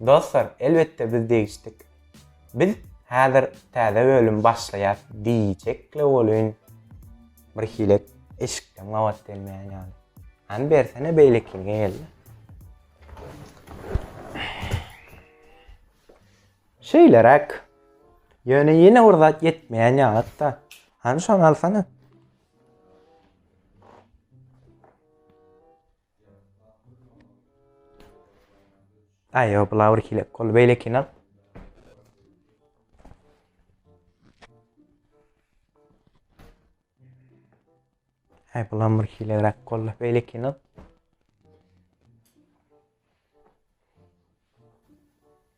Dostlar elbetde biz degişdik. Biz häzir täze bölüm başlaýas diýjekle welin bir hilek eşikden gabat gelmeýän ýaly. Hany bersene beýlekini geldi. Şeýleräk. Ýöne ýene bir zat ýetmeýän ýalyda. Hany şony alsana. Ay yok bula bir hile kol böyle kinal. Ay bulan bir hile rak kol böyle kinal.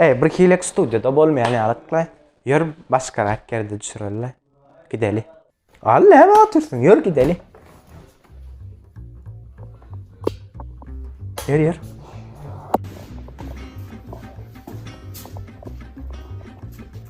Eý, bir hilek studiýada bolmaýan ýalyk-la. Ýör, başgarak ýerde düşüreli-le. Gideli. Al, näme otyrsyň? Ýör, gideli. Ýör, ýör.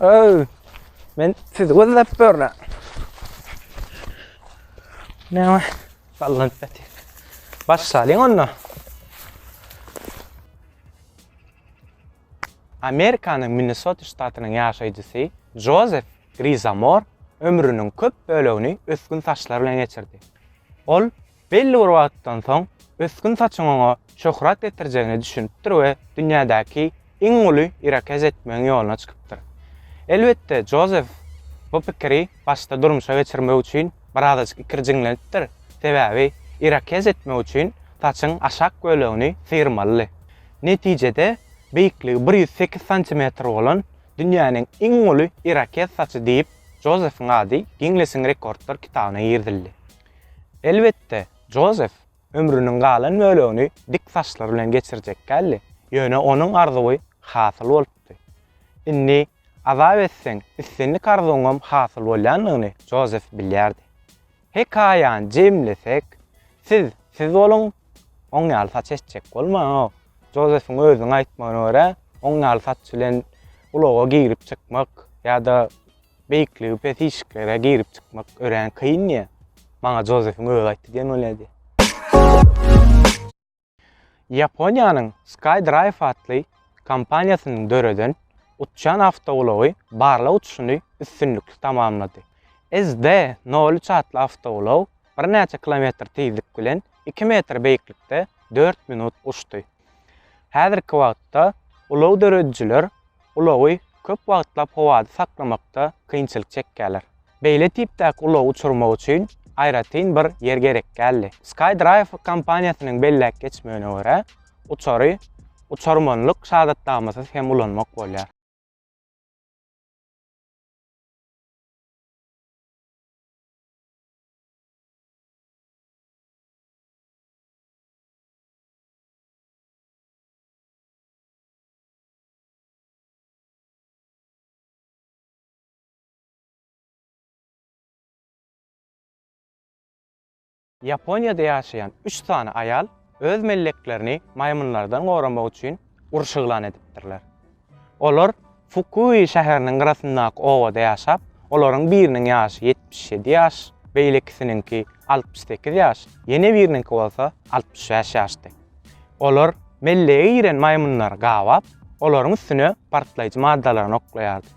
Öy, men sizi gözläp börne. Ne var? Sallan peti. Baş salin onda. Amerikanyň Minnesota ştatynyň ýaşaýjysy Jozef Grizamor ömrüniň köp bölegini ösgün saçlar bilen geçirdi. Ol Belli bir wagtdan soň ösgün saçyň oňa şöhrat getirjegine düşünipdir we dünýädäki iň uly irakez etmegiň ýoluna çykypdyr. Elbetde, Jozef bu pikiri başda durmuşa geçirmek üçin birazajyk ikirjiňlenipdir, sebäbi irakez etmek üçin saçyň aşak bölegini syrmalydy. Netijede, beýikligi bir ýüz sekiz santimetr bolan dünýäniň iň uly irakez saçy diýip, Jozefiň ady Ginnesiň rekordlar kitabyna girizildi. Elbetde, Jozef ömrüniň galan bölegini dik saçlar bilen geçirjek däldi, ýöne onuň arzuwy hasyl bolupdy. Indi azap etseň, islendik arzuwyňam hasyl bolýandygyny Jozef bilýärdi. Hekaýany jemlesek, siz siz boluň, oň ýaly saç etjek bolmaň. Jozefiň özüniň aýtmagyna görä, oň ýaly saç bilen ulaga girip-çykmak ýa-da Beýikligi pes işiklere girip-çykmak örän kyn diýe, maňa Jozefiň özi aýtdy diýen bolýardy. Ýaponiýanyň Skydrive atly kompaniýasynyň döreden uçýan awtoulagy barlag uçuşyny üstünlikli tamamlady. SD nol üç atly awtoulag birnäçe kilometr tizlik bilen iki metr beýiklikde dört minut uçdy. Häzirki wagtda ulag döredijiler ulagy köp wagtlap howada saklamakda kynçylyk çekýärler. Beýle tipdäki ulagy uçurmak üçin aýratyn bir ýer gerek däldi. SkyDrive kompaniýasynyň belläp geçmegine görä, uçary uçarmanlyk şahadatnamasyz hem ulanmak bolýar. Ýaponiýada ýaşaýan üç sany aýal öz melleklerini maýmynlardan goramak üçin uruş yglan edipdirler. Olar Fukui şäheriniň gyrasyndaky obada ýaşap, olaryň biriniň ýaşy ýetmiş ýedi ýaş, beýlekisiniňki altmyş sekiz ýaş, ýene biriniňki bolsa altmyş bäş ýaşdy. Olar mellege giren maýmynlary gabap, olaryň üstüne partlaýjy maddalaryny oklaýardy.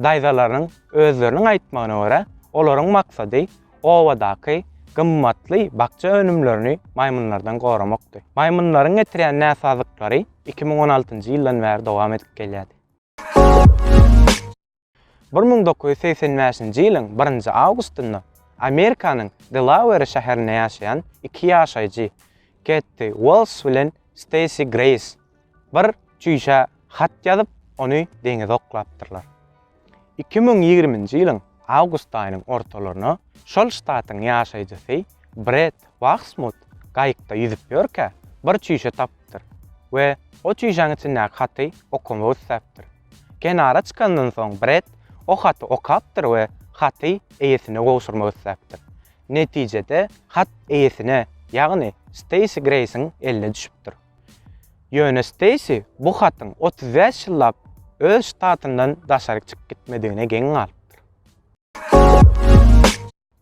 Daýzalarynyň özleriniň aýtmagyna görä, olaryň maksady obadaky gymmatly bakja önümlerini maýmynlardan goramakdy. Maýmynlaryň getirýän näsazlyklary iki müň on altynjy ýyldan bäri dowam edip gelýärdi. Bir müň dokuz ýüz segsen bäşinji ýylyň birinji awgustynda Amerikanyň Delaweri şäherinde ýaşaýan iki ýaşaýjy, Ketti Uels bilen Steýsi Greýs, bir çüýşä hat ýazyp, ony deňize oklapdyrlar. Iki müň ýigriminji ýylyň awgust aýynyň ortalaryna şol ştatyň ýaşaýjysy Bret Wahsmut gaýykda ýüzüp ýörkä, bir çüýşe tapypdyr we o çüýşäň içindäki haty okamak isläpdir. Kenara çykandan soň Bret o haty okapdyr we haty eýesine gowşurmak isläpdir. Netijede hat eýesine, ýagny Steýsi Greýsiň eline düşüpdir. Ýöne Steýsi bu hatyň otuz bäş ýyllap öz ştatyndan daşaryk çykyp gitmedigine geň galypdyr.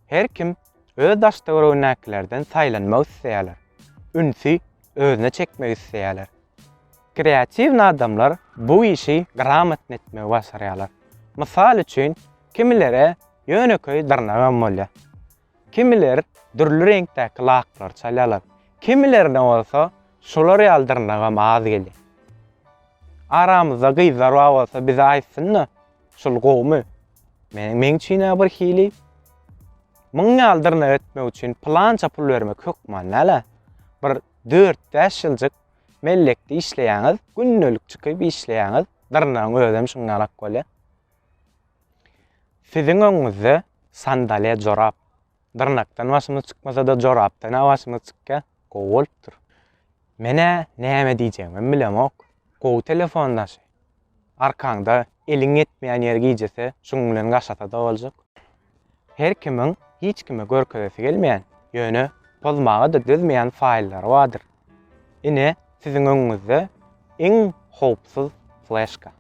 Her kim öz daş-töweregindäkilerden saýlanmak isleýärler, ünsi özüne çekmek isleýärler. Kreatiwny adamlar bu işi gramatny etmegi başarýarlar. Mysal üçin, kimilere ýönekeý dyrnagam bolýar. Kimiler dürli reňkdäki laklary çalýarlar, kimilerine bolsa şular ýaly dyrnagam az gelýär. Aramyzda gyzlar bar bolsa bize aýtsyn-da, Şul gowumy? Meniň meň üçin-ä bir hili Müň ýaly dyrnak etmek üçin pylança pul bermek hökman näle? Bir dört-bäş ýyljyk mellekde işleýäňiz, gündelik çykyp işleýäňiz, dyrnagyň özem şuň ýalak bolýar. Siziň öňüňizde sandalýa jorap, Dyrnakdan başymyz çykmasa-da jorapdan-a başymyz çykýa, gowy bolupdyr. Men-ä näme diýjegimem bilemok. Gowy telefon daşy. Arkaňda eliň ýetmeýän ýeri gijese, şuň bilen gaşasa-da boljak. Her kimiň hiç kime görkezesi gelmeýän, ýöne pozmaga-da dözmeýän faýllary bardyr. Ine, siziň öňüňizde iň howpsuz fleşka.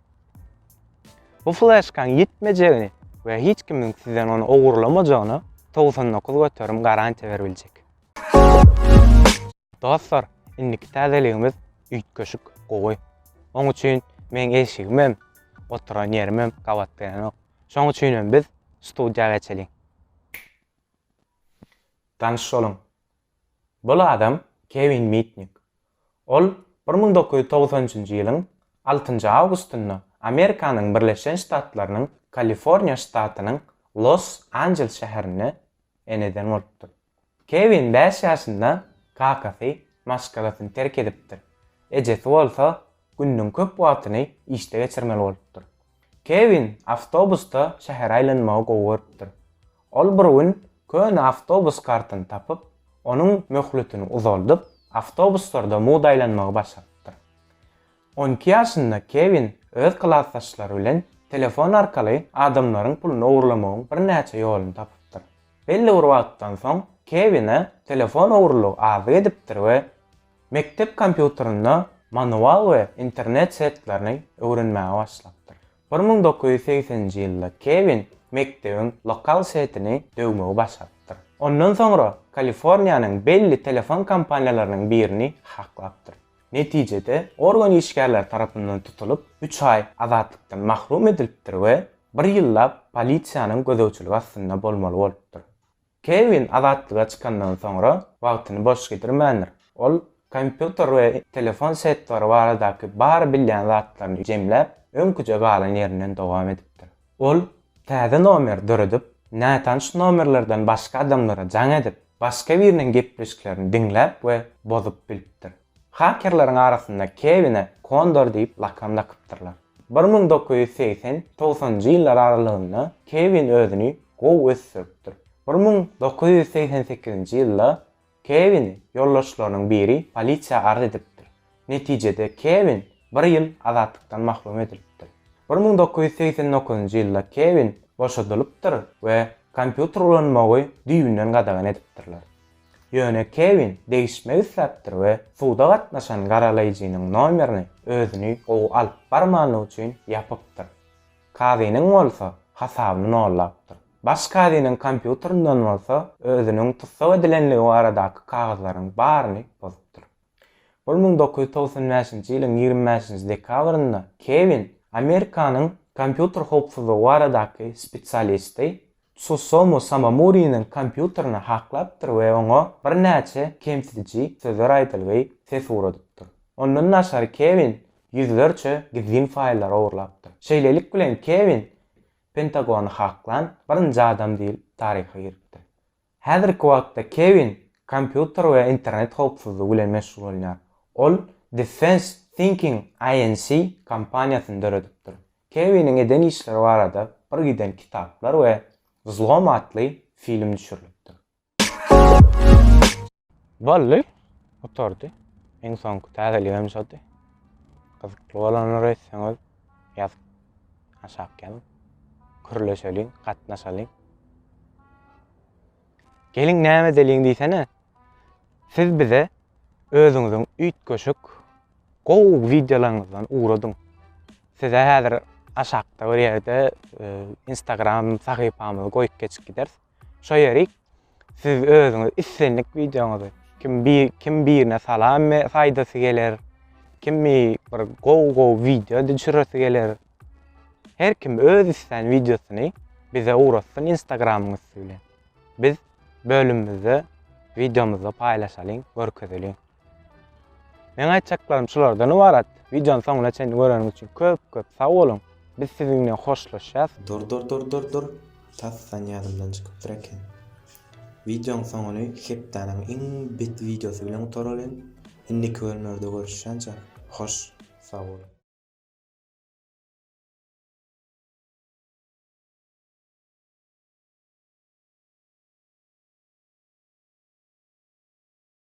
Bu fleşkaň ýitmejegini we hiç kimiň sizden ony ogurlamajagyna togsan dokuz göterim garantiýa beribiljek. Dostlar, indiki täzeligimiz üýtgeşik gowy. Oň üçin meň eşigimem, oturan ýerimem gapatdylanok. Şoň üçin hem biz studiýa geçeliň. Tanyş boluň, Bul adam Kewin Mitnik. Ol bir müň dokuz ýüz togsan üçünji ýylyň altynjy awgustynda Amerikanyň Birleşen Ştatlarynyň Kaliforniýa ştatynyň Los Anjeles şäherinde eneden bolupdyr. Kewin bäş ýaşynda kakasy maşgalasyny terk edipdir, ejesi bolsa gününiň köp wagtyny işde geçirmeli bolupdyr. Kewin awtobusda şähere aýlanmagy gowy görüpdir. Ol bir gün köne awtobus kartyny tapyp, onuň möhletini uzaldyp, awtobuslarda mugt aýlanmagy başarypdyr. On iki ýaşynda Kewin öz klasdaşlary bilen telefon arkaly adamlaryň puluny ogurlamagyň birnäçe ýoluny tapypdyr. Belli bir wagtdan soň Kewine telefon ogurlygy azyk edipdir we Mekdep kompýuterinde manual we internet setlerini öwrenmäge başlapdyr. Bir müň dokuz ýüz segseninji ýylda Kewin mekdebiň lokal setini döwmegi başarypdyr. Ondan soňra Kaliforniýanyň belli telefon kompaniýalarynyň birini haklapdyr. Netijede, organ işgärleri tarapyndan tutulyp, üç aý azatlykdan mahrum edilipdir we bir ýyllap polisiýanyň gözegçiligi astynda bolmaly bolupdyr. Kewin azatlyga çykandan soňra wagtyny boş gidirmändir. Ol kompýuter we telefon setlary baradaky bar bilýän zatlaryny jemläp, öňküje galan ýerinden dowam edipdir. Ol täze nomer döredip, nätanyş nomerlerden başga adamlara jaň edip, başga biriniň gepleşiklerini diňläp we bozup bilipdir. Hakerleriň arasynda Kewine Kondor diýip lakam dakypdyrlar. Bir müň dokuz ýüz segsen, togsanynjy ýyllar aralygynda Kewin özüni gowy ösdüripdir. Bir müň dokuz ýüz segsen sekizinji ýylda Kewin ýoldaşlarynyň biri polisiýa arz edipdir. Netijede Kewin bir ýyl azatlykdan mahrum edilipdir. Bir müň dokuz ýüz segsen dokuzynjy ýylda Kewin boşadylypdyr we kompýuter ulanmagy düýbünden gadagan edipdirler. Ýöne Kewin degişmek isläpdir we suda gatnaşan garalaýjynyň nomerini özüni gowy alyp barmanlygy üçin ýapypdyr. Kazynyň bolsa hasabyny nollapdyr. Baş kazynyň kompýuteryndan bolsa özüniň tussag edilenligi baradaky kagyzlaryň baryny bozupdyr. Ol müň dokuz ýüz togsan bäşinji ýylyň ýigrimi bäşinji dekabrynda Kewin, Amerikanyň kompýuter howpsuzlygy baradaky spesialisti, Tsusomu Samamuriniň kompýuterini haklapdyr we oňa birnäçe kemsidiji sözler aýdylgy ses ugradypdyr. Ondan daşary Kewin ýüzlerçe gizlin faýllary ogurlapdyr. Şeýlelik bilen Kewin Pentagony haklan birinji adam diýlip taryha giripdir. Häzirki wagtda Kewin kompýuter we internet howpsuzlygy bilen meşgullanýar. Ol Defense Thinking Inc. Kompaniýasyny döredipdir. Kewiniň eden işleri barada bir giden kitaplar we Vzlom atly film düşürilipdir. Boldy. Gutardy. Iň soňky täzeligem şody. Gyzykly bolanlary etseňiz ýaz aşak ýazyň. Kürleşeliň, gatnaşalyň. Geliň näme edeliň diýsene. Siz bize özüňiziň üýtgeşik gowy wideolaryňyzdan ugradyň. Size häzir aşakda bir ýerde e, Instagram sahypamyzy goýup geçip gideris. Şo ýerik siz özüňiz islendik wideoňyzy kim bir kim birine salam be saýdasy geler kimi bir gowy gowy wideo düşüresi geler her kim öz islän wideosyny bize ugratsyn instagramyň üsti bilen biz bölümimizde wideomyzda paýlaşalyň görkezeliň. Meň aýtjaklarym şulardan ybarat. Wideony soňuna çenli göreniňiz üçin köp köp sag boluň. Biz siziň bilen hoşlaşýas. Dur dur dur dur dur tasdan ýadymdan çykypdyr eken. Wideoň soňuny hepdäniň iň bet wideosy bilen gutaralyň. Indiki bölümlerde görüşýänçä hoş sag boluň.